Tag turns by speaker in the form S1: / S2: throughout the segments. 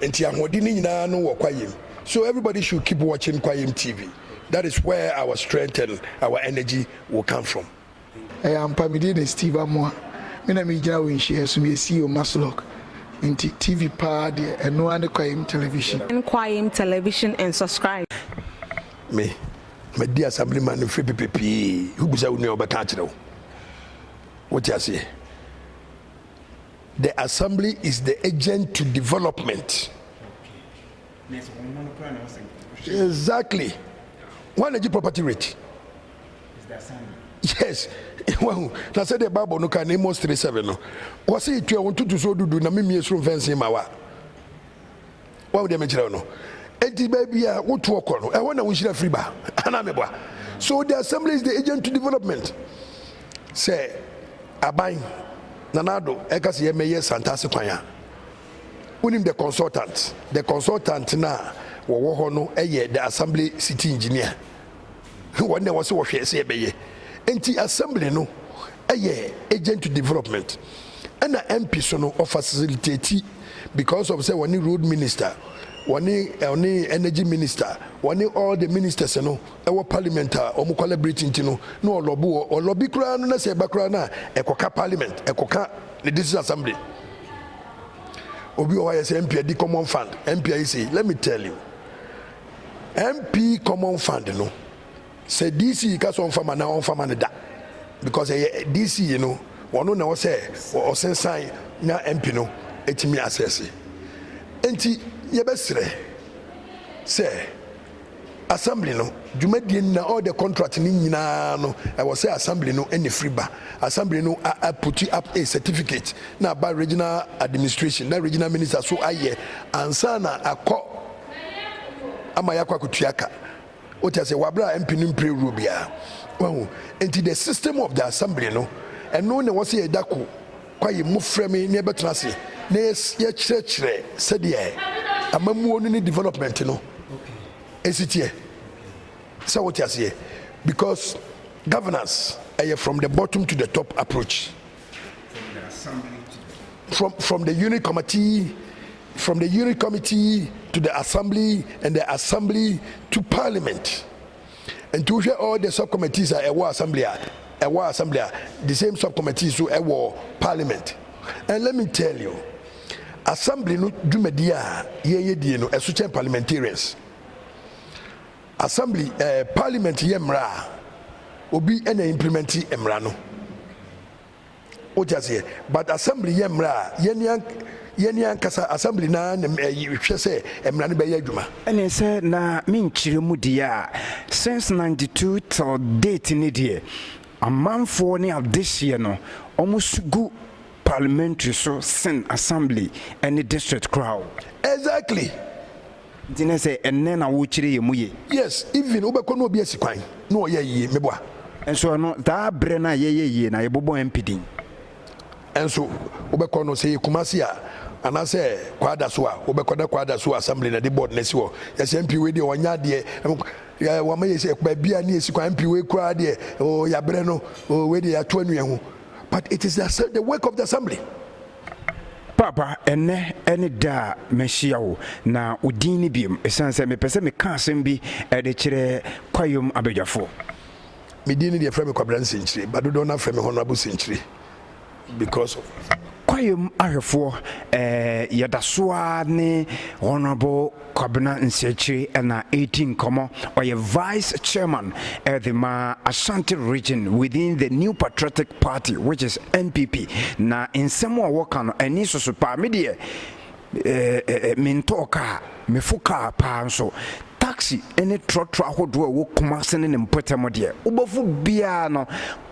S1: Nti ahoɔden no nyinaa no wɔ kwayɛm so everybody should keep watching kwayɛm TV that is where our strength and our energy will come from. Ɛyɛ ampa,
S2: me din de Steve Amoah, me na megyina wɔ nhyiaɛ so, meyɛ CEO Maslok, nti TV paa deɛ ɛno ara ne Kwayem Television. Join Kwayem
S3: Television and subscribe. Me,
S1: madi Assemblyman mfiri pepepee, wobisa wo nua a ɔbɛka akyerɛ wo, wote aseɛ? The assembly is the agent to development. Exactly. One age property rate.
S4: Yes.
S1: Wahu na sɛ deɛ Bible no ka na Amos three seven no wɔsi tua wɔn tutu so dudu na mimie soro mfɛnsee ma wa. Wahu deɛ mekyerɛ wo no? Enti baabi a wotoɔ kɔ no, ɛhɔ na wo nhyira firi ba, anaa meboa? So the assembly is the agent to development? Sɛ aban, Nana Addo, ɛka sɛ yɛmmɛyɛ Santase kwan a, wonim the consultant? The consultant no a wɔwɔ hɔ no yɛ the assembly city engineer. Wɔn na wɔse wɔhwɛ sɛ yɛbɛyɛ. Enti Assembly no yɛ agent to development ɛna MP so no ɔfacilitati because of sɛ wɔne road minister, wɔne ɔne energy minister, wɔne all the ministers no wɔ parliament a wɔn collaborate nti no na ɔlɔbo wɔ ɔlɔbi koraa no na sɛ ɛba koraa no a ɛkɔka parliament ɛkɔka ne district assembly. Obi wɔ hɔ ayɛ sɛ MP adi common fund, MP ayɛ sei. Let me tell you. MP common fund no sɛ DC ka sɛ ɔnfa ma na ɔnfa ma no da because ɛyɛ DC no wɔn na ɔsɛ ɔsensan na MP no etumi asɛse nti yɛbɛsrɛ sɛ assembly no dwumadie na all the contract no nyinaa no ɛwɔ sɛ assembly no ɛna firi ba assembly no a, a put up a certificate na aba regional administration na regional minister so ayɛ ansa na akɔ ama yɛakɔ akotua ka wote ase wabra mp no mpire wuro biara wahu nti the system of the assembly no ɛno na wɔsɛ yɛda ko kwaye mu frɛ me na yɛbɛtena ase na yɛkyerɛkyerɛ sɛdeɛ amammuo no ne development no ɛsi teɛ sɛ wote aseɛ because governance ɛyɛ from the bottom to the top approach from the assembly to the. From, from the unit committee, from the unit committee to the assembly and the assembly to parliament. And to hear all the subcommittees are ɛwɔ assembly a ɛwɔ assembly a the same subcommittees so ɛwɔ parliament. And let me tell you, assembly no dwumadi a yɛyɛ die no ɛso kyɛn parliamentarians. Assembly, eh, Parliament yɛ mmara a, obi na implementi mmara no. Wote aseɛ? But Assembly yɛ mmara a, yɛne ankasa Assembly no ara na hwɛ sɛ mmara no bɛyɛ adwuma. Ɛne sɛ na
S4: me nkyerɛ mu deɛ a, since 92 till date no deɛ, amanfoɔ ne adehyeɛ no, wɔn su gu Parliamentary so sen Assembly ne District koraa o. Exactly.
S1: Nti
S4: ne sɛ ɛnnɛ na wokyere yɛ mu ye. Yes even wobɛkɔ
S1: na obi asi kwan na ɔyɛɛ yie meboa. Nso ɛno
S4: daa berɛ no a yɛyɛ yie na yɛbobɔ MP din.
S1: Nso wobɛkɔ no sɛ yɛ Kumasi a anaasɛ Kwadaso a wobɛkɔ na Kwadaso assembly na ɛde board no asi hɔ yɛse MP wei deɛ wanyɛ adeɛ ɛm wama yɛ sɛ baabi a ne yɛsi kwan MP wei koraa deɛ oo yabrɛ no oo wei deɛ yato anwia ho but it is the work of the assembly.
S4: Paapa, ɛnnɛ ne da a mahyia wo, na wo din ni biom, esiane sɛ mepɛ sɛ meka asɛm bi de kyerɛ Kwayom abadwafo. Me
S1: din ni deɛ frɛ me Kwabena Nsenkyire, but dodoɔ no ara frɛ me Honourable Senkyire because of. Kwayom
S4: ahwɛfoɔ, ɛɛ yɛdaso ara ne Honourable Kwabena Nsiakyire na ɛredi nkɔmmɔ. Ɔyɛ Vice Chairman de ma Ashanti Region within the New Patriotic Party which is NPP. Na nsɛm a ɔka no ani soso paa. Me deɛ eh, mentɔɔ kaa, mefo kaa paa nso. Taxi ne trɔtrɔ ahodoɔ a ɛwɔ Kumase ne ne mpɔtam deɛ, wobɛfo biara no,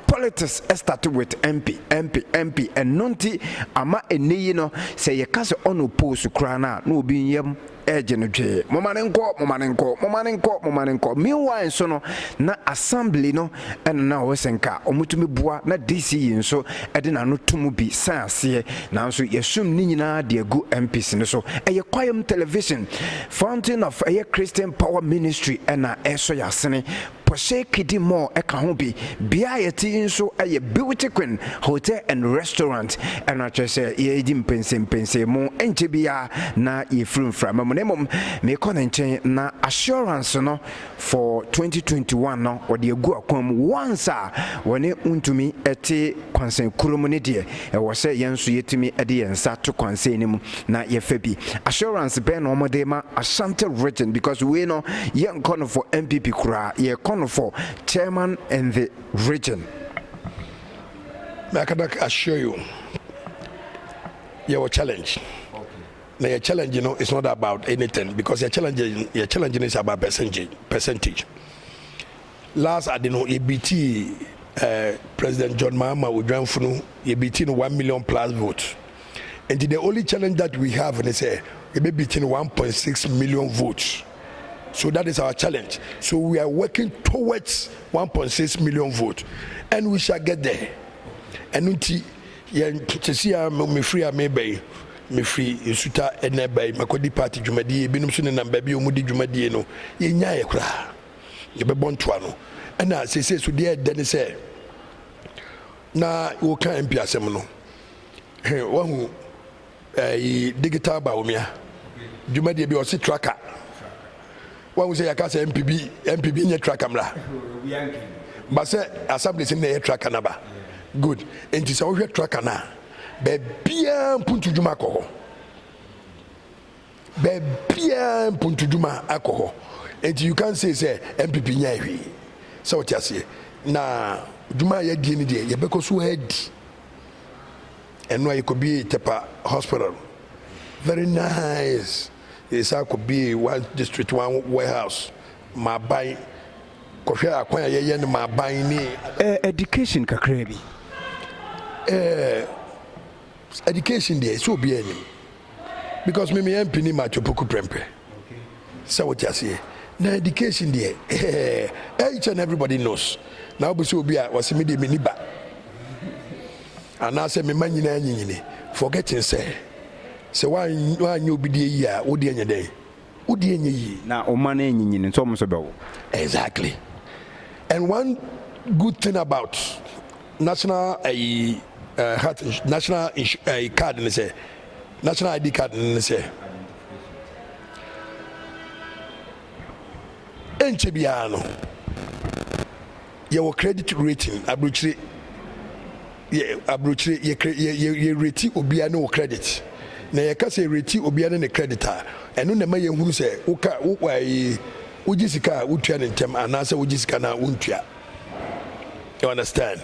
S4: Politics start with MP, MP, MP, ɛno nti ama ɛnɛ yi no sɛ yɛka sɛ ɔno post koraa no a na obi nyam ɛregye no dwee, moma no nkɔ, moma no nkɔ, moma no nkɔ, moma no nkɔ. Meanwhile nso no na assembly no ɛna na ɔwɔ sɛ nka wɔtumi boa na DC yi nso ɛde n'ano to mu bi san aseɛ nanso yɛsum ne nyinaa de agu MPs no so. Ɛyɛ Kwayam Television, Fountain of ɛyɛ Christian Power Ministry ɛna ɛresɔ yɛn asene. Pɔsee Kidi Mall ka ho bi. Bea a yɛte yi nso yɛ Beauty Queen Hotel and Restaurant. Ɛno ara kyerɛ sɛ yɛredi mpɛnsɛmpɛnsɛn mu. Ɛnkyɛ biara na yɛfiri mframa mu. Na mmom merekɔ ne nkyɛn na assurance no for 2021 no wɔde agu akwan mu once a wɔne wontumi te Kɔnsɛn koro mu ne deɛ ɛwɔ sɛ yɛn nso yɛtumi de yɛn nsa to kɔnsɛn no mu na yɛfa bi. Assurance bɛn na wɔde rema Ashanti region because wei no yɛnkɔ no for NPP koraa, yɛkɔ no for chairman and the region.
S1: Me I can assure you yɛwɔ challenge na yɛ challenge no is not about anything because yɛ challenge yɛ challenge no is about percentage percentage. Last ade no yɛbitii eh, President John Mahama Odwanfu no, yɛbitii no one million plus votes. Nti the only challenge that we have ne sɛ yɛbɛbiti no one point six million votes. So that is our challenge. So we are working towards one point six million votes and we shall get there. Ɛno nti yɛn sisi a mefiri a meba yi mefiri nsuta ɛna ɛba yi makɔdi party dwumadie ebinom so nenam baabi a wɔdi dwumadie no yɛnyaeɛ koraa. yɛbɛbɔ ntoa no. Ɛna seesei so deɛ ɛdɛ ne sɛ na woka MP asɛm no he wahu ɛyi digital Bawumia dwumadie bi ɔse tracker wahu sɛ yɛaka sɛ MP bi MP bi nyɛ tracker mmra ba sɛ assemblies no na ɛyɛ tracker no aba good nti sɛ wohwɛ tracker no a baabiaa mpuntu dwuma kɔ hɔ Baabiara mpontodwuma akɔ hɔ nti you can't say sɛ NPP nyae hwee. Sɛ wote aseɛ na dwuma a yɛadie no deɛ yɛbɛkɔ so adi. Ɛno a yɛkɔbiee Tepa hospital very nice. Yɛsan kɔbiee one district one warehouse ma aban. Kɔhwɛ akwan a yɛyɛ no ma aban ne. Ɛɛ education
S4: kakraa bi. Ɛɛ
S1: Education deɛ ɛsɛ obiara nim because me meyɛ mpini ma atwopoku prɛmpɛ sɛ wote aseɛ na education deɛ ɛɛ each and everybody knows na wobɛsɛ obi a wɔse me deɛ menni ba anaasɛ mema nyinaa nyinyini forgetting sɛ sɛ woanyɛ obi deɛ yi a wodeɛ nyɛ dɛn wo deɛ nyɛ yie. Na wo mma no anyinyini
S4: nso wɔn nso bɛwo. Exactly
S1: and one good thing about national ɛyi ɛɛ health insu national insu ɛyi card ne sɛ national ID card no ne sɛ ɛnkyɛ biara no. yɛwɔ credit rating, abrokyire, yɛ, abrokyire, yɛ, yɛ, yɛ, yɛ reti obia ne wo credit. Na yɛka sɛ yɛ reti obia ne ne credit a, ɛno na ɛma yɛhunu sɛ woka, wo, ayi, wogye sika a wotua no ntɛm anaasɛ wogye sika no a wontua. You understand?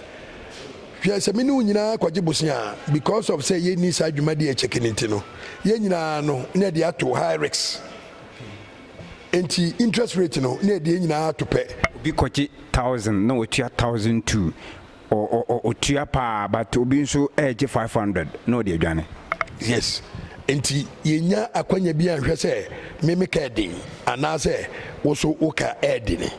S1: Hwɛ, sɛ me ne wo nyinaa kɔgye bosea a, because of sɛ yɛnni saa dwumadi a ɛkyɛke no nti no, yɛn nyinaa no, na ɛde ato high risk. Enti interest rate no na ɛde yɛn nyinaa ato pɛ. Obi kɔgye
S4: thousand na ɔtua thousand two, ɔtua paa but obi nso regye five hundred na ɔde adwane. Yes,
S1: enti yɛnnya akwanya bi anhwɛ sɛ me meka ɛden anaasɛ wo nso woka ɛdene.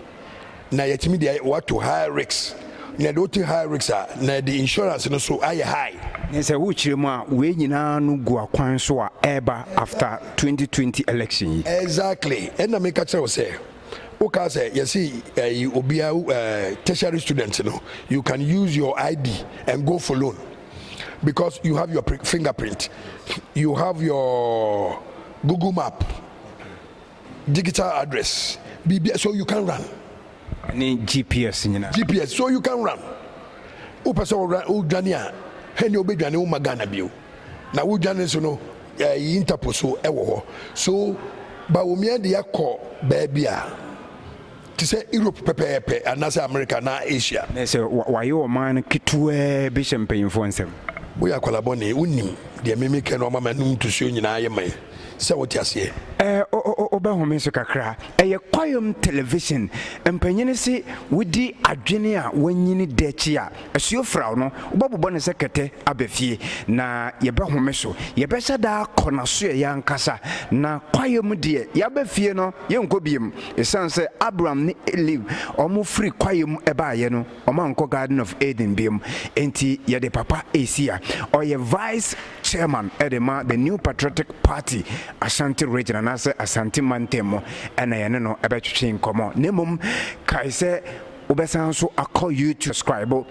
S1: na yɛatumi de woato high risk na yɛde wote high risk a na yɛde insurance no so ayɛ high. Ne sɛ wokyerɛ mu
S4: a wei nyinaa no gu akwan so a ɛreba after 2020 election yi. Exactly ɛna
S1: meka kyerɛ wo sɛ wokaa sɛ yɛse ɛyi obia tertiary student no you can use your ID and go for loan because you have your fingerprint you have your Google map digital address biribia so you can run. Ɛne
S4: GPS nyinaa. GPS so you can run
S1: wopɛ sɛ wo dwane a hɛnea wobɛdwane wo ma Ghana bio na wo dwane so no ɛyi eh, Interpol so ɛwɔ hɔ so Bawumia de akɔ baabi a te sɛ Europe pɛpɛɛpɛ anaasɛ Amerika anaa Asia. Na sɛ wɔayɛ
S4: ɔman no ketewaa bi hyɛ mpanyimfoɔ nsam. Woyɛ akwadaa bɔne,
S1: wonnim deɛ me mekɛ na wama m'anom ntosuo nyinaa ayɛ mman, sɛ wote aseɛ. Ɛɛ, wobɛhome
S4: so kakra. Ɛyɛ kwaeɛm television. Mpanyin se wodi adwene a wɔanyini dɛ kyi a, Asuafrao no, wobɛbobɔ no sɛ kɛtɛ aba fie, na yɛbɛhome so. Yɛbɛhyɛ da akɔ n'asoɛeɛ ankasa, na kwaeɛ mu deɛ, yɛaba fie no, yɛrenkɔ bio. Ɛsiane sɛ Abram ne Elihu wɔfiri kwaeɛ mu baeɛ no, wɔankɔ Garden of Eden bio enti, yɛde Papa resi ha. Ɔyɛ Vice Chairman de ma The New Patriotic Party Ashanti Region anaasɛ Asante Mantam mu na yɛne no bɛtwetwe nkɔmmɔ. Na mmom, kae sɛ Wobɛsan nso akɔ YouTube scribe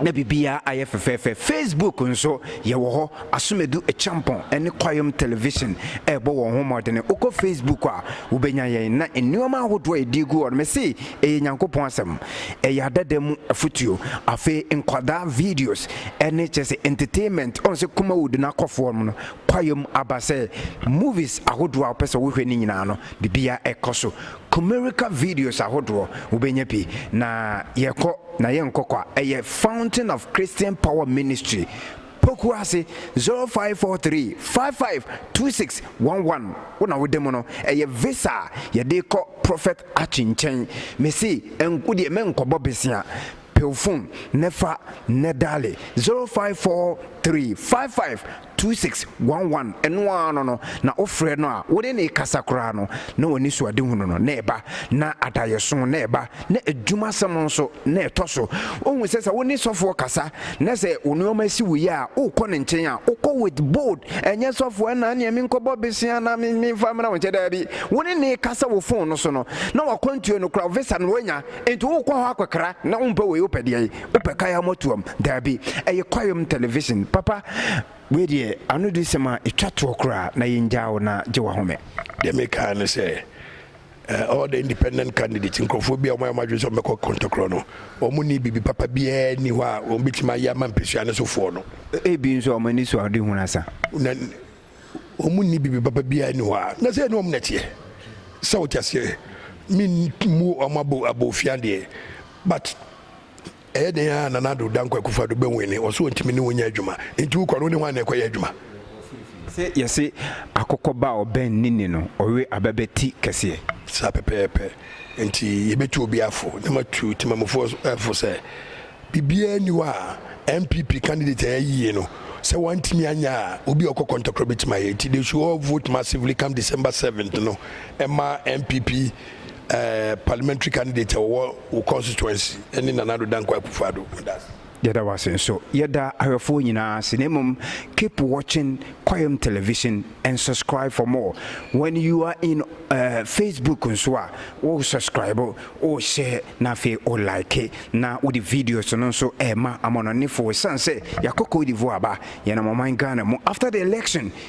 S4: na biribiara ayɛ fɛfɛɛfɛ. Facebook nso yɛwɔ hɔ. Asomedu Acheampong ne Kwayom Television rebɔ wɔn ho mmɔdene. Wokɔ Facebook a, wobɛnya yɛn. Na nneɛma ahodoɔ a yɛde regu hɔ no, mese ɛyɛ Nyankopɔn asɛm. Ɛyɛ adada mu afotuo. Afei nkwadaa videos ne kyerɛ sɛ entertainment, ɔhu sɛ Kumawood no akɔ fam no, Kwayom aba sɛ movies ahodoɔ a wopɛ sɛ wohwɛ no nyinaa no, biribiara kɔ so. Comerica videos ahodoɔ wobɛnya bi na yɛkɔ na yɛnkɔ kwa ɛyɛ fountain of Christian power ministry poku ase zero five four three five five two six one one wo na wode mu no ɛyɛ visa a yɛde kɔ prophet Archie nkyɛn mese ɛnko deɛ mɛnkɔbɔ besia Pew fon ne fa ne daale 0543552611 ɛno ara no no na wo frɛ no a wo ne no rekasa koraa no na w'anisoadehunu no na ɛba na adayɛso na ɛba na adwumasɛm nso na ɛtɔ so wohu sɛ sɛ wo ne sɔfoɔ kasa na sɛ wo nnoɔma si wo yɛ a wokɔ ne nkyɛn a wokɔ with bold ɛnyɛ sɔfoɔ ɛna neɛ menkɔbɔ bese anaa memfa mmra wo nkyɛ daabi wo ne no rekasa wɔ fon no so no na wakwantuo no koraa visa no wanya Enti wokɔ hɔ akɔkra na wompɛ wei wopɛ deɛn? Wopɛ kaya motoam? Daabi, ɛyɛ kwaeɛm television. Papa, wei deɛ ano di sɛm a ɛtwa toɔ koraa na yɛngyaa wo na gye w'ahome. Deɛ mekaa ne
S1: sɛ all the independent candidates, nkurɔfoɔ bi a wɔayɛ wɔn adwene sɛ wɔbɛkɔ kɔntɔkorɔ no, wɔnni biribi papa biara nni hɔ a wɔbɛtumi ayɛ ama mpɛsua no sofoɔ no. Ebi nso wɔn ani
S4: so a wɔde hunu asa. Na.
S1: wɔn nni biribi papa biara nni hɔ a, na sɛ ɛne wɔn na ɛteɛ. Sɛ wote aseɛ, memmu wɔn abo abofia deɛ, but ɛyɛ dɛn a Nana Addo Dankwa Akufo-Addo bɛwene, ɔse ɔntumi ne wo nyɛ adwuma, nti wokɔ no, wone hwan na ɛkɔyɛ adwuma? Sɛ
S4: yɛse akokɔ ba a ɔbɛn ne ni no, ɔwe aba bɛ ti kɛseɛ. Saa pɛpɛɛpɛ.
S1: Enti yɛbɛtu obiara fo na matu temammufoɔ fo sɛ biribiara nni hɔ a NPP candidate a yɛayi yi no, sɛ wantumi anyɛ a, obi a ɔkɔ kɔntɔkorɔ bɛtumi ayɛ. Enti they should all vote massively come December 7th no mma NPP eh, parliamentary candidate a ɔwɔ wo constituency ne Nana Addo Dankwa Akufo-Addo. Meda ase. Yɛda wo ase
S4: nso. Yɛda ahwɛfoɔ nyinaa ase na mmom keep watching Kwayam Television and subscribe for more. When you are in eh, Facebook nso a, wo subscribe, wo share na afei wo like na wode videos no nso ɛrema amanɔnefoɔ. Ɛsiane sɛ yɛakɔ Cote d'Ivoire aba, yɛnam ɔman Ghana mu. After the election,